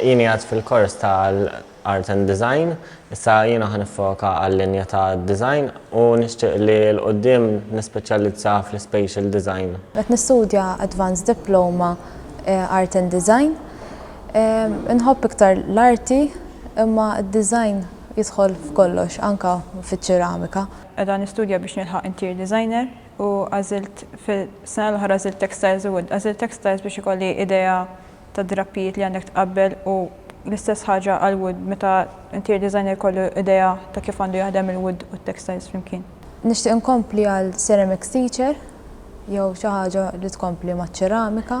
Jien qiegħed fil-kors tal-Art and Design, issa jiena ħa niffoka għal-linja ta' design u nixtieq li l-quddiem nispeċjalizza fl-Spatial Design. Qed nistudja Advanced Diploma Art and Design. Inħobb iktar l-arti imma d-design jidħol f'kollox, anke fiċ-ċeramika. Qiegħda nistudja biex nilħaq interior designer u għażilt fis-sena l-oħra għażilt textiles u wood. Għażilt textiles biex ikolli idea tad-drappijiet li għandek tqabbel u l-istess ħaġa għall-wood meta interior designer jkollu idea ta' kif għandu jaħdem il-wood u t-textiles flimkien. Nixtieq inkompli għal ceramics teacher jew xi ħaġa li tkompli maċ-ċeramika.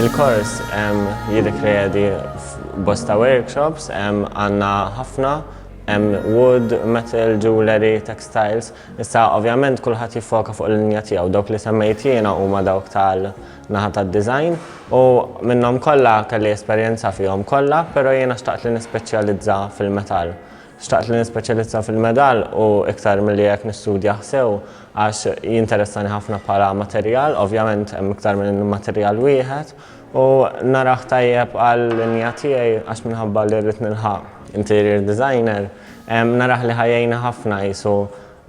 Il-kors jirrikredi bosta workshops, għanna ħafna, wood, metal, jewelry, textiles. Issa, ovvjament, kullħat jiffoka fuq l-linja tiegħu. Dawk li semmejt jiena huma dawk tal naħa tad-design, u minnhom kollha kelli esperjenza fihom kollha, però jiena xtaqt li nispeċjalizza fil-metall. Xtaqt li nispeċjalizza fil-medall u iktar milli hekk nistudjah sew għax jinteressani ħafna bħala materjal, ovvjament hemm iktar minn materjal wieħed, u narah tajjeb għal-linja tiegħi għax minħabba li rrid nilħaq interior designer, narah li ħa jgħinni ħafna qisu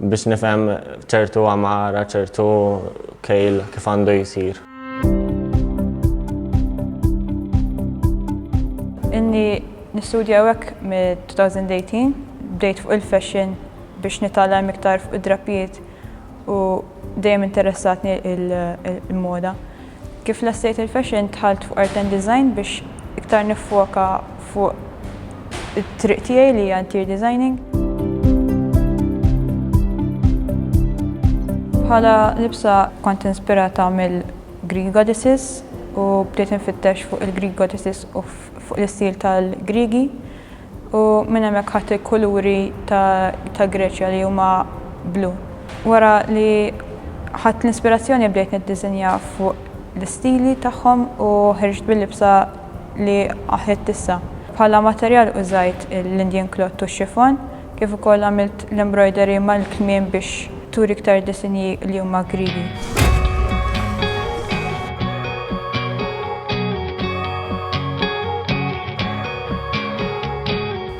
Biex nifhem ċertu għamara, ċertu kejl kif għandu jsir. Inni nistudja hekk mid-2018 bdejt fuq il-fashion biex nitgħallem iktar fuq id-drapijiet u dejjem interessatni il-moda. Kif lestejt il-fashion dħalt fuq art and design biex iktar niffoka fuq it-triq tiegħi li hija interior designing. Bħala libsa kont inspirata mill-Greek goddesses u bdejt infittex fuq il-Greek goddesses u fuq l-istil tal-Griegi u minn hemmhekk ħadt il-kuluri ta' Greċja li huma blu. Wara li ħadt l-inspirazzjoni bdejt niddiżinja fuq l-istili tagħhom u ħriġt bil-libsa li ħditt issa. Bħala materjal użajt l-Indian cloth u x-chiffon. Kif ukoll għamilt l-embroidery mal-kmiem biex turi iktar disinji li huma Griegi.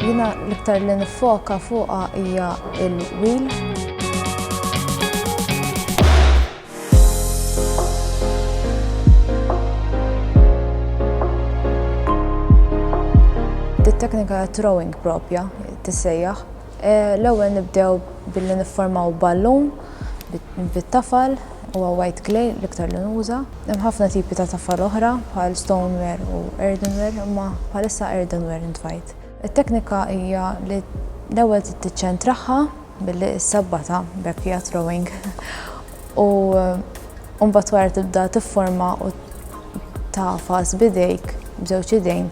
Jiena l-iktar li nifoka fuqha hija l-wheel. Dit-teknika ta' throwing propja tissejjaħ. Eh, l-ewwel nibdew billi nifformaw ballun bit-tafal u white clay l-iktar li nuża. Hemm ħafna tipi ta' tafal oħra bħal stoneware u earthenware, imma bħalissa earthenware intfajt. Il-teknika hija li l-ewwel tittiċċentraħħa Billi ssabbata backyard rowing u mbagħad wara tibda tifforma u tafas bidejk b'żewġ idejn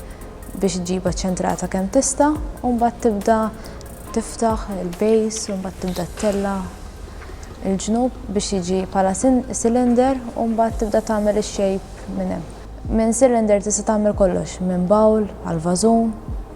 biex ġiba ċentrata kemm tista' u mbagħad tibda tiftaħ il-base u mbagħad tibda tella il-ġnub biex jiġi bħala cylinder u mbagħad tibda tagħmel ix-shape minn hemm. Minn cylinder tista' tagħmel kollox, minn bowl għal vażun,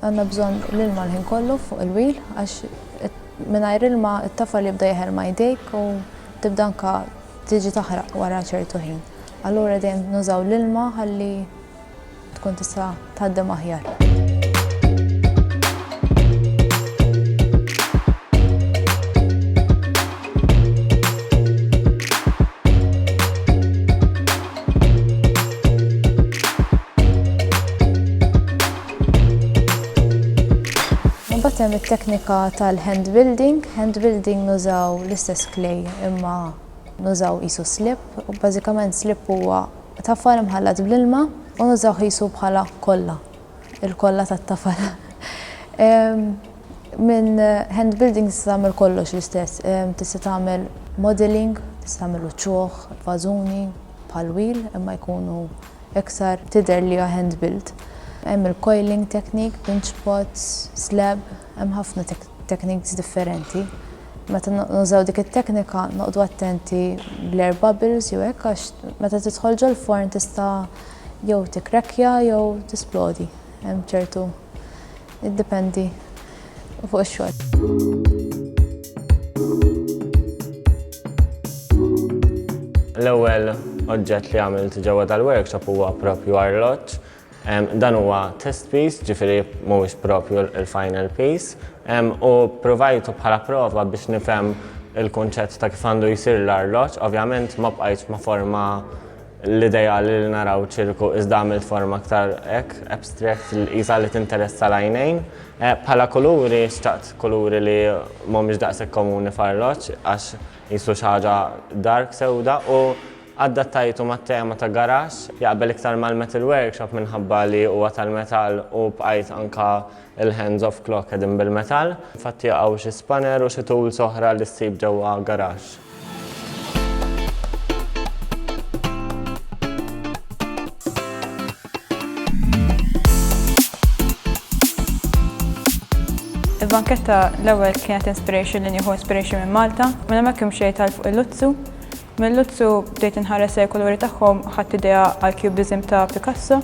Għandna bżonn l-ilma l-ħin kollu fuq il-wheel għax mingħajr ilma t-tafal jibda jeħel ma' jdejk u tibda anke tiġi taħraq wara ċertu ħin. Allura dejjem nużaw l-ilma ħalli tkun tista' tgħaddem aħjar. Imbagħad hemm it-teknika tal-hand building. Hand building nużaw l-istess clay imma nużaw qisu slip. Bażikament slip huwa tafal imħallat bl-ilma u nużaw qisu bħala kolla, il-kolla tat-tafal. Minn hand building tista' tagħmel kollox l-istess. Tista' tagħmel modelling, tista' tagħmel uċuħ, vażuni bħal wheel imma jkunu Iktar tidher li hija hand built. Hemm il-coiling technique, pinch pots, slab, hemm ħafna techniques differenti. Meta nużaw dik it-teknika noqgħdu attenti bl-air bubbles jew hekk għax meta tidħol ġol-forn tista' jew tikkrekkja jew tisplodi. Hemm ċertu Iddependi fuq ix-xogħol. L-ewwel oġġett li għamilt ġewwa dal-workshop huwa propju arloġġ. Dan huwa test piece, ġifieri mhuwiex propju l-final piece. U provajtu bħala prova biex nifhem il-kunċett ta' kif għandu jsir l-arloġġ. Ovvjament ma bqajtx ma' forma L-idea li naraw ċirku iżda għamilt forma aktar hekk abstract li qisha li tinteressa l-għajnejn. Eh, bħala kuluri xtaqt kuluri li mhumiex daqshekk komuni f'arloġġ għax qisu xi ħaġa dark sewda u addattajtu mat-tema ta' garax jaqbel iktar mal-metal workshop minħabba li huwa tal-metall u bqajt anka il-hands of clock qegħdin bil-metall. Infatti jaqgħu xi spanner u xi tools oħra li ssib ġewwa garax. Il-banketta l-ewwel kienet inspiration li nieħu inspiration minn Malta, minn hemmhekk imxej tal fuq il-Luzzu. Mill-Luzzu bdejt inħares il-kuluri tagħhom ħadd idea għal cubism ta' Picasso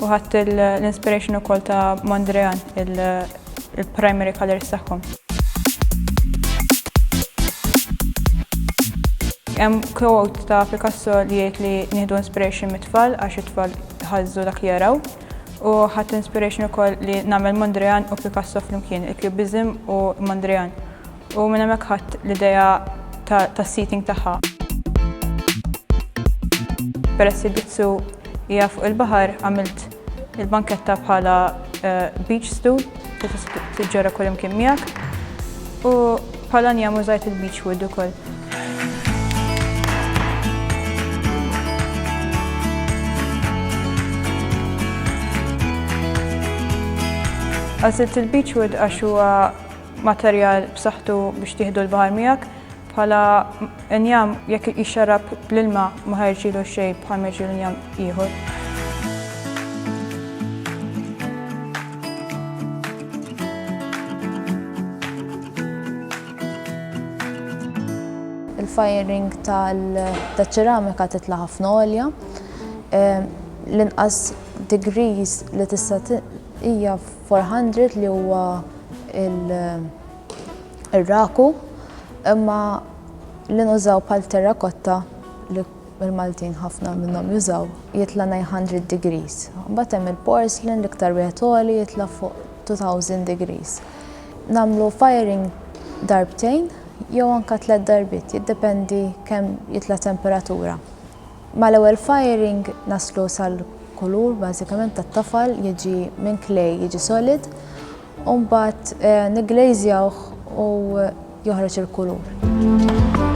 U ħadt l-inspiration ukoll ta' Mondrian, il-primary colors tagħhom. Hemm quote ta' Picasso li jgħid li nieħdu inspiration mit-tfal għax it-tfal jħażżu dak li jaraw. U ħadt inspiration ukoll li nagħmel Mondrian u Picasso flimkien, il-cubism u Mondrian. U minn hemmhekk ħadt l-idea tas-seating tagħha. Peress li Bizzu hija fuq il-baħar għamilt il-banketta bħala eh, beach stool li tista' tiġġorra kull imkien miegħek u bħala njam użajt il-beach wood ukoll. Għażilt il-beach wood għax huwa materjal b'saħħtu biex tieħdu l-baħar miegħek, bħala injam jekk jixxarrab bl-ilma ma ħa jirġielu xejn bħal ma jirġielu injam ieħor. il-firing tal-ċeramika titla' ħafna għolja. Ehm, l-inqas degrees li tista' hija 400 li huwa il-raku imma li nużaw bħal terrakotta li il-Maltin ħafna minnhom jużaw jitla' 900 degrees. Mbagħad hemm il-porcelain l-iktar wieħed għoli jitla' fuq 2000 degrees. Namlu firing darbtejn jew anka tliet darbit, jiddependi kemm jitla' temperatura. Mal-ewwel firing naslu sal-kulur bażikament tat-tafal jiġi minn clay jiġi solid u mbagħad nigglejżjawh u joħroġ il-kulur.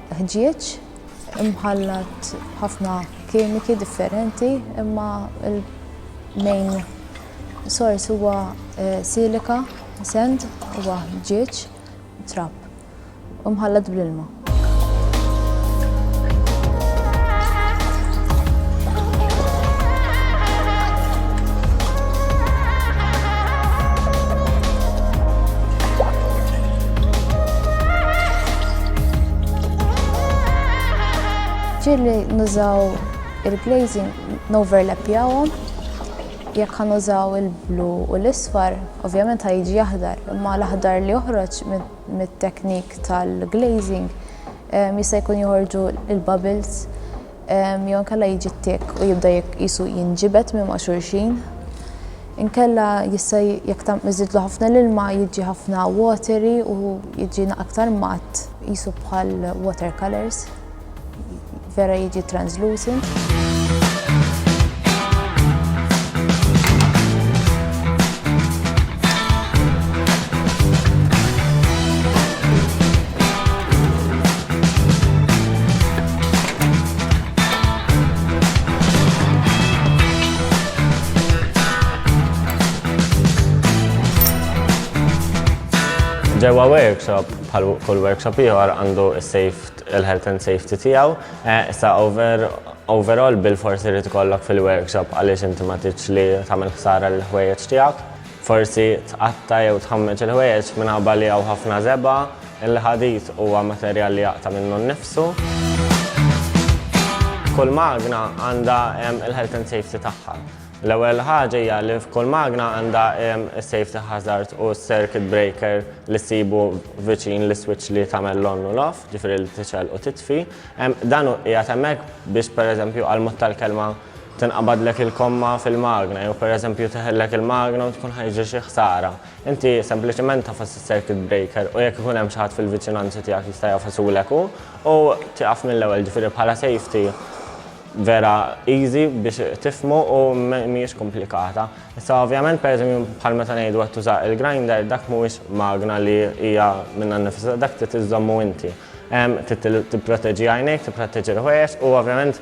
ħġieġ imħallat b'ħafna kimiki differenti imma l-main sors huwa eh, silika, sand huwa ħġieġ, trap, u mħallat bl-ilma. Ġieli nużaw il-glazing noverlappjawhom jekk ħan użaw il-blu u l-isfar, ovvjament ħajġi aħdar, imma l-aħdar li joħroġ mit-teknik tal-glazing eh, jista' jkun joħorġu il-bubbles jew inkella jiġi ttiekk u jibda jisu jinġibed minn ma' xulxin. Inkella jista' jekk tam iżidlu ħafna l-ilma jiġi ħafna watery u jiġi aktar matt jisu bħal water colors vera jiġi translucent. Ġewwa workshop, bħal kull workshop ieħor għandu il-health and safety tiegħu. Eh, sa over overall bil-forsi li tkollok fil-workshop għaliex inti ma tiġ li tagħmel ħsara l-ħwejjeġ tiegħek. Forsi tqatta jew tħammeġ il-ħwejjeġ minħabba li hawn ħafna żeba' Il-ħadid huwa materjal li jaqta' minnu nnifsu. Kull magna għandha il-health and safety tagħha. L-ewwel ħaġa hija li f'kull magna għandha s-safety hazard u s-circuit breaker li ssibu viċin l-iswiċċ li tagħmel l-on u l-off, ġifieri li tixgħel u titfi. Dan hu qiegħed hemmhekk biex pereżempju għal mod tal-kelma tinqabadlek il-komma fil-magna jew pereżempju teħillek il-magna u tkun ħa jiġri xi ħsara. Inti sempliċement tagħfas is-circuit breaker u jekk ikun hemm xi ħadd fil-viċinanza tiegħek jista' jagħfasulek hu u tieqaf mill-ewwel, ġifieri bħala safety vera easy biex tifhmu u mhijiex komplikata. Issa ovvjament pereżempju bħal meta ngħidu qed tuża il-grinder dak mhuwiex magna li hija minnha nnifisha, dak trid iżżommu inti. Trid tipproteġi għajnejk, tipproteġi l-ħwejjeġ u ovvjament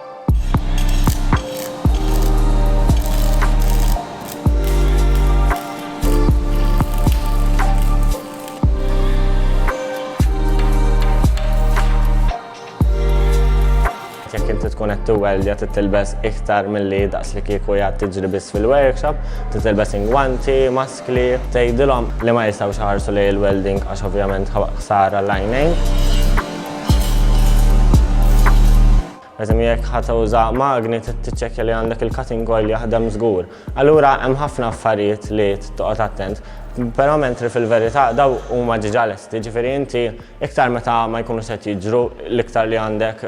jekk inti tkun qed tiweldja titilbes iktar milli daqs li kieku jgħad tiġri biss fil-workshop, titilbes ingwanti, mask Klieb, tgħidilhom li ma jistgħux iħarsu lejn il-welding għax ovvjament ħsara għall-għajnejn. Pereżempju jekk ħa tuża magni trid tiċċekkja li għandek il-cutting oil jaħdem żgur. Allura hemm ħafna affarijiet li toqgħod attent, però mentri fil-verità dawn huma diġà lesti, ġifieri inti iktar meta ma jkunux qed jiġru l-iktar li għandek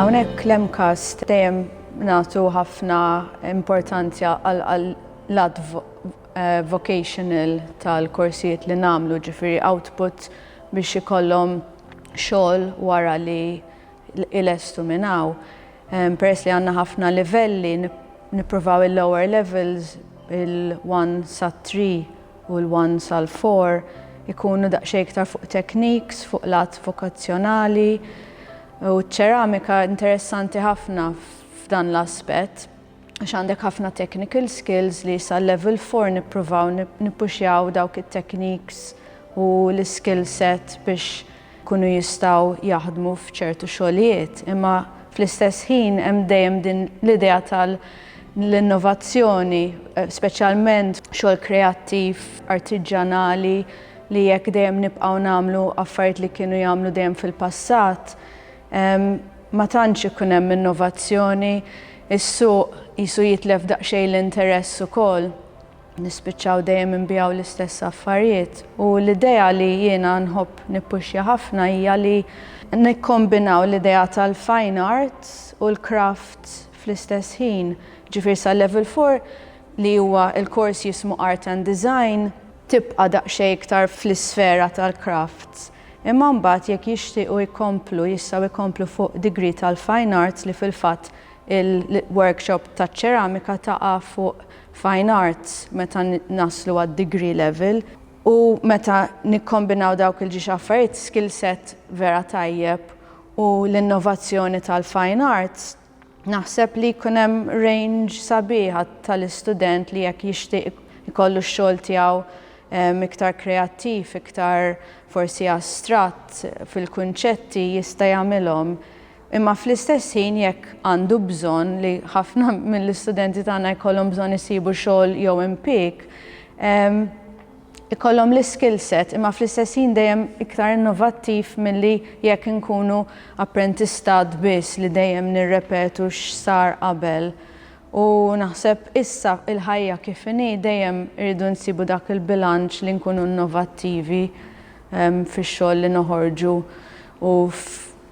Hawnhekk l-MCAST dejjem nagħtu ħafna importanzja għall-lat eh, vocational tal-korsijiet li nagħmlu ġifieri output biex ikollhom xogħol wara li ilestu minn hawn. Peress li għandna ħafna livelli nippruvaw il-lower levels il-one sa three u l-one sal-four ikunu daqsxejn iktar fuq techniques, fuq l-att vokazzjonali u ċ-ċeramika interessanti ħafna f'dan l-aspett. għax għandek ħafna technical skills li sa level 4 nippruvaw nippuxjaw dawk it-techniques u l-skill set biex ikunu jistgħu jaħdmu f'ċertu xogħlijiet. Imma fl-istess ħin hemm dejjem din l-idea tal l-innovazzjoni, speċjalment xogħol kreattiv, artiġġanali li jekk dejjem nibqgħu nagħmlu affarijiet li kienu jagħmlu dejjem fil-passat, Ma tantx ikun hemm innovazzjoni, is-suq qisu jitlef daqsxejn l-interess ukoll. Nispiċċaw dejjem inbiegħu l-istess affarijiet. U l-idea li jiena nħobb nippuxja ħafna hija li nikkombinaw l-idea tal-fine art u l-craft fl-istess ħin. Ġifieri sal-level four li huwa l-kors jismu Art and Design, tibqa' daqsxejn iktar fl-isfera tal-crafts. Imma mbagħad jekk jixtiequ jkomplu jistgħu jkomplu fuq degree tal-Fine Arts li fil-fatt il-workshop taċ-ċeramika taqa' fuq Fine Arts meta naslu għad-degree level u meta nikkombinaw dawk il-ġiex affarijiet skill set vera tajjeb u l-innovazzjoni tal-Fine Arts Naħseb li jkun hemm range sabiħa tal-istudent li jekk jixtieq ikollu x-xogħol tiegħu ehm, iktar kreattiv, iktar forsi astratt fil-kunċetti jista' jagħmilhom. Imma fl-istess ħin jekk għandu bżonn li ħafna mill-istudenti tagħna jkollhom bżonn isibu xogħol jew impieg, ehm, ikollhom l-iskill set imma fl-istess ħin dejjem iktar innovattiv milli jekk inkunu apprentistat biss li dejjem nirrepetu x'sar qabel u naħseb issa il-ħajja kif inhi dejjem irridu nsibu dak il-bilanċ li nkunu innovattivi fix-xogħol li noħorġu u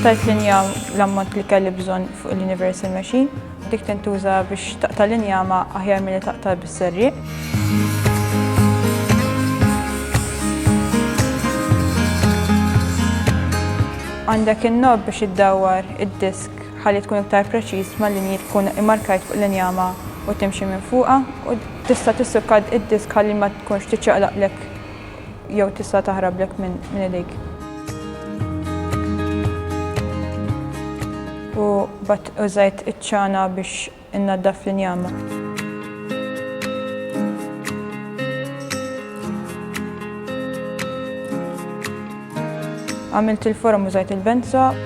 Qattajt linja l-ammont li kelli bżonn fuq l-Universal Machine. Dik tintuża biex taqta' l-injama aħjar milli taqta' bis-serrieq. Għandek in-knob biex iddawwar id-disk ħalli tkun iktar preċiż mal-linji tkun immarkajt fuq l-injama u timxi minn fuqha u tista' tissukka id-disk ħalli ma tkunx tiċċaqlaqlek jew tista' taħrablek minn idejk. U mbagħad użajt iċ-ċana biex innaddaf l-injama. Għamilt il-forom użajt il-benza.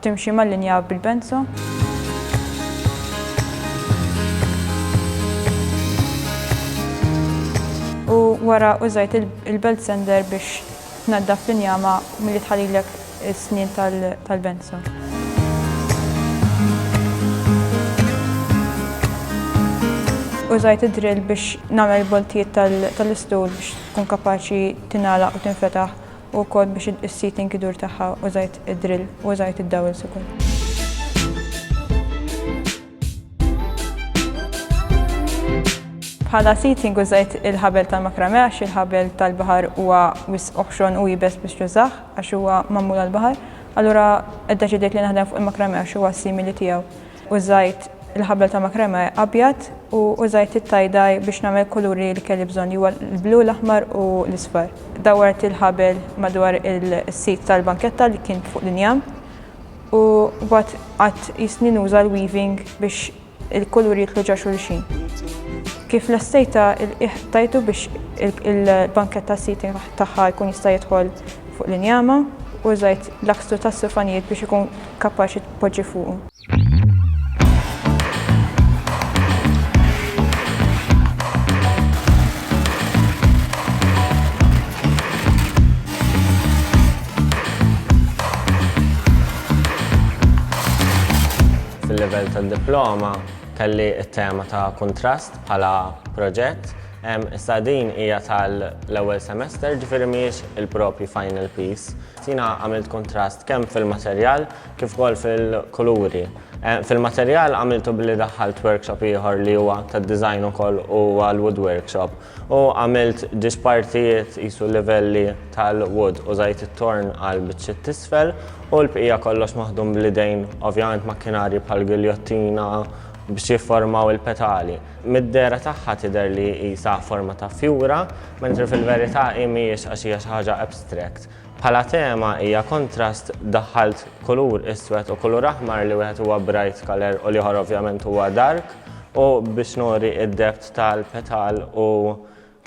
Timxi mal-linja bil-benzo. U wara użajt il-belt sander biex tnaddaf l-injama milli tħallilek is-snien tal-benzo. Użajt id-drill biex nagħmel il-boltijiet tal-istul biex tkun kapaċi tingħalaq u tinfetaħ U wkoll biex is-seat inkidur tagħha użajt id-drill u użajt id-dowels ukoll. Bħala seating użajt il-ħabel tal-makramè għax il-ħabel tal-baħar huwa wisq oħxon u iebes biex tużah għax huwa magħmul għall-baħar. Allura ddeċidejt li naħdem fuq il-makramè għax huwa s-simili tiegħu. Użajt il-ħabel ta' makrame abjad u użajt it-tie-dye biex nagħmel kuluri li kelli bżonn li huwa l-blu, l-aħmar u l-isfar. Dawwart il-ħabel madwar is-sit tal-banketta li kien fuq l-injam u mbagħad qgħadt jistni nuża l-weaving biex il-kuluri jidħlu ġo xulxin. Kif lestejtha il-qiegħ tajtu biex il-banketta s-seating tagħha jkun jista' jidħol fuq l-injama. Użajt l-akstru tas-sufanijiet biex ikun kapaċi tpoġġi fuqu. Fil-livell tad-diploma kelli t-tema ta' kuntrast bħala proġett. Issa din hija tal-ewwel semester, ġifieri mhijiex il-proprju final piece. Jiena għamilt kuntrast kemm fil-materjal kif ukoll fil-kuluri. Fil-materjal għamiltu billi daħħalt workshop ieħor li huwa tad-design ukoll u huwa l-wood workshop u għamilt ġiex partijiet qisu livelli tal-wood. Użajt it-torn għal biċċiet t'isfel u l-bqija kollox maħdum bl-idejn, ovvjament makkinarji bħall-giljottina biex jifformaw il-petali. Mid-dehra tagħha tidher li qisha forma ta' fjura, mentri fil-verità hi mhijiex għax hija xi ħaġa abstract. Bħala tema hija kontrast, daħħalt kulur iswed u kulur aħmar li wieħed huwa bright colour u l-ieħor ovvjament huwa dark u biex nuri d-depth tal-petal u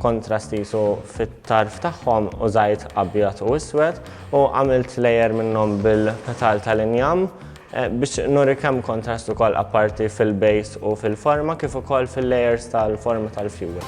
Kontrast qisu fit-tarf tagħhom użajt abjad u iswed u għamilt layer minnhom bil-petal tal-injam biex nuri kemm kontrast ukoll apparti fil-base u fil-forma kif ukoll fil-layers tal-forma tal-fjuri.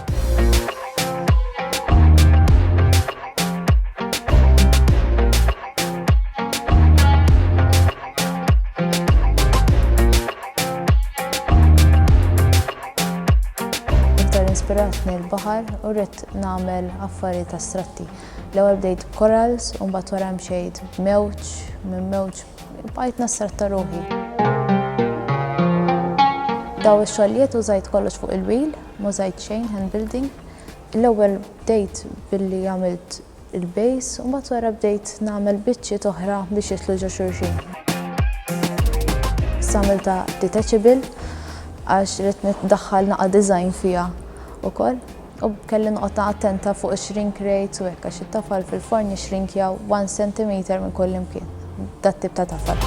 Iktar inspiratni l-baħar u rrid nagħmel affarijiet astratti. L-ewwel bdejt b'korals u mbagħad wara mxejt b'mewġ, minn mewġ bqajt nastratta ruħi. Daw ix-xogħlijiet użajt kollox fuq il-wheel, ma użajt xejn hand building. L-ewwel bdejt billi għamilt il-bass u mbagħad wara bdejt nagħmel biċċiet oħra biex jidħlu ġo xulxin. Issa għamiltha detachable għax ridt niddaħħal naqa' design fiha wkoll u kelli noqgħod attenta fuq ix-shrink rate u hekk għax it-tafal fil-forn jixrinkjaw 1 centimeter minn kullimkien. dat-tip ta' tafal.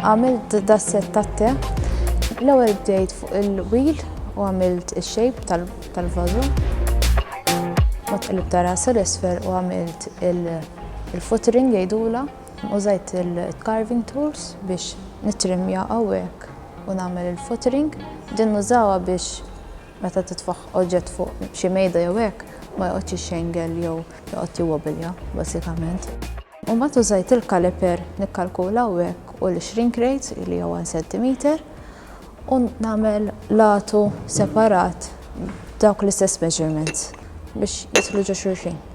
Għamilt dasset tat-te. L-ewwel bdejt fuq il-wheel u għamilt ix-shape tal-vażu. Ma tqilib ta' rasa l-isfer u għamilt il-footering jgħidula. Użajt il-carving tools biex nitrimja hawnhekk u nagħmel il-footering. Din nużawha biex Meta titfagħ oġġett fuq xi mejda jew hekk, ma joqgħodx ixxengel jew joqgħod jiwobilja, bażikament. U mbagħad użajt il-caliper nikkalkula hawnhekk u l-shrink rate li hija 1 centimeter u nagħmel latu separat b'dawk l-istess measurements biex jidħlu ġo xulxin.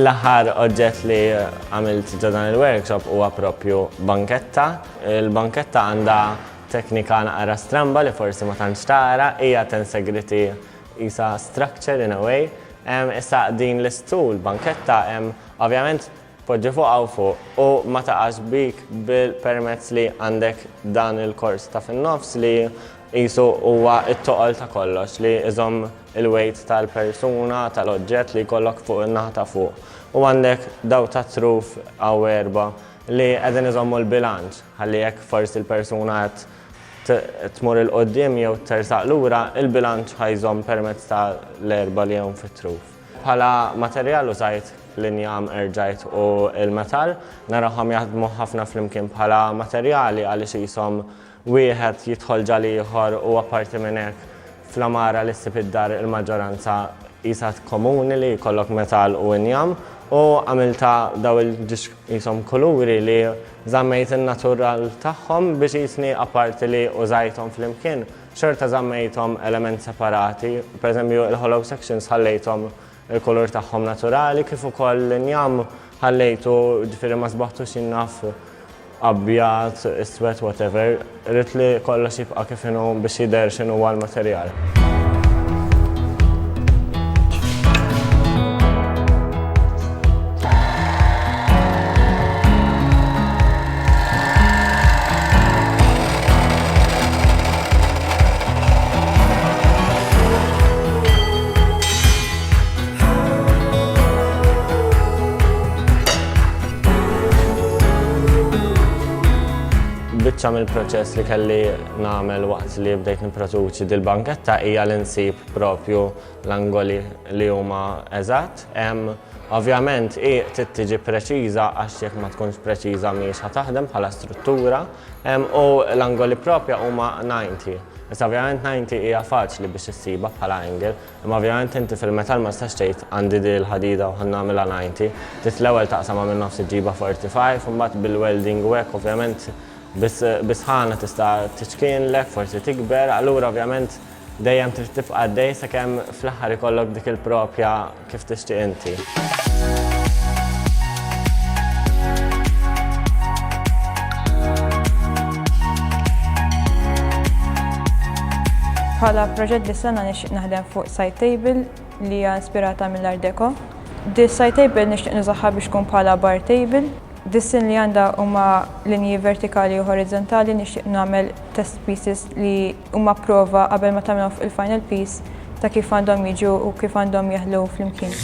L-aħħar oġġett li għamilt ġo dan il-workshop huwa propju banketta. Il-banketta għandha teknika naqra stramba li forsi ma tantx tara, hija tensegriti isa structure in a way. Issa din l-istul, banketta, ovvjament Poġġi fuq hawn fuq u ma taqax bik permezz li għandek dan il-kors ta' fin-nofs li qisu huwa t-toqol ta' kollox li iżomm il-weight tal-persuna, tal-oġġett li jkollok fuq in-naħa ta' fuq. U għandek dawk tat-truf hawn erbgħa li qegħdin iżommu l-bilanċ ħalli jekk forsi l-persuna qed tmur 'il quddiem jew tersaq lura, il-bilanċ ħa jżomm permezz tal-erbgħa li hawn fit-truf. Bħala materjal użajt l-injam, erġajt u l-metall. Narahom jaħdmu ħafna flimkien bħala materjali għaliex qishom wieħed jidħol ġa l-ieħor u apparti minn hekk fl-għamara li ssib id-dar il-maġġoranza qisha komuni li jkollok metall u injam u għamiltha daw il-ġiex qishom kuluri li żammejt in-natural tagħhom biex qisni apparti li użajthom flimkien Xorta żammejthom element separati, pereżempju il-hollow sections ħallejthom il-kulur tagħhom naturali kif ukoll l-injam ħallejtu ġifieri ma sbaħtux jien naf abjad, iswed, whatever, ridt li kollox jibqa' kif inhu biex jidher x'inhuwa l-materjal. biċċa mill-proċess li kelli nagħmel waqt li bdejt nipproduċi dil-banketta hija li nsib propju l-angoli li huma eżatt. Ovvjament hi trid tiġi preċiża għax jekk ma tkunx preċiża mhijiex ħa taħdem bħala struttura u l-angoli propja huma 90. Issa ovvjament 90 hija faċli biex issibha bħala angle, imma ovvjament inti fil-metall ma tistax tgħid għandi di l-ħadida u ħa nagħmilha 90. Trid l-ewwel taqsamha minn nofs iġġibha 45 u mbagħad bil-welding u hekk ovvjament bis-sħana tista' tiċkienlek, forsi tikber, allura ovvjament Dejjem trid tibqa' għaddej sakemm fl-aħħar ikollok dik il-propja kif tixtieq inti. Bħala proġett dis-sena nixtieq naħdem fuq side table li hija ispirata mill-Art Deco. Dis-side table nixtieq nużaha biex tkun bħala bar table. Dis-sin li għandha huma linji vertikali u horizontali nixtieq nagħmel test pieces li huma prova qabel ma tagħmilhom fuq il-final piece ta' kif għandhom jiġu u kif għandhom jeħlu flimkien.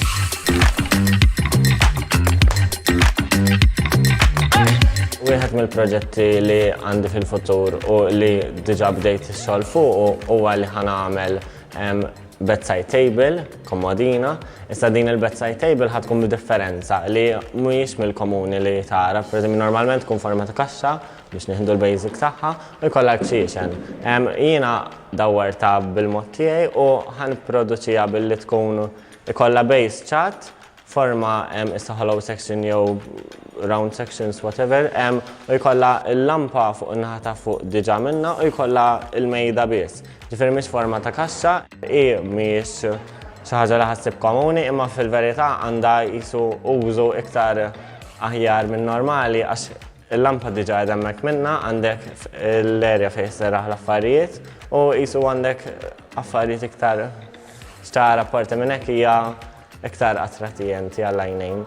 Wieħed mill-proġetti li għandi fil-futur u li diġà bdejt ix-xogħol fuqu huwa li ħa nagħmel em, bedside table, komodina. Issa din il-bedside table ħa tkun b'differenza li mhijiex mill-komuni li tara. Pereżempju, normalment tkun forma ta' kaxxa biex nieħdu l-basic tagħha u jkollha l-ċiċen. Jiena dawwartha bil-mod tiegħi u ħa nipproduċiha billi tkun ikollha base ċatt, forma issa hollow section jew round sections whatever, u jkollha l-lampa fuq in-naħa ta' fuq diġà minnha u jkollha l-mejda biss. Ġifieri mhix forma ta' kaxxa, hi mhijiex xi ħaġa li ħassib komuni imma fil-verità għandha qisu użu iktar aħjar minn normali għax Il-lampa diġa qiegħda hemmhekk minnha għandek l-area fejn jisserraħ l-affarijiet u qisu għandek affarijiet iktar ċtar apparti minn hekk hija iktar attratijenti għall-għajnejn.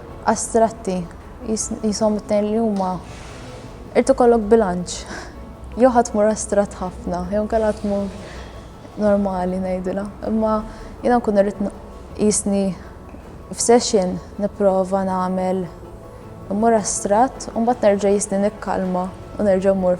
Astratti, qishom it-tnejn li huma, irid ikollok bilanċ. Jew ħa tmur astratt ħafna, jew inkella tmur normali ngħidilha. Imma jiena nkun irrid qisni f'session nipprova nagħmel immur astratt u mbagħad nerġa' jisni nikkalma u nerġa' mmur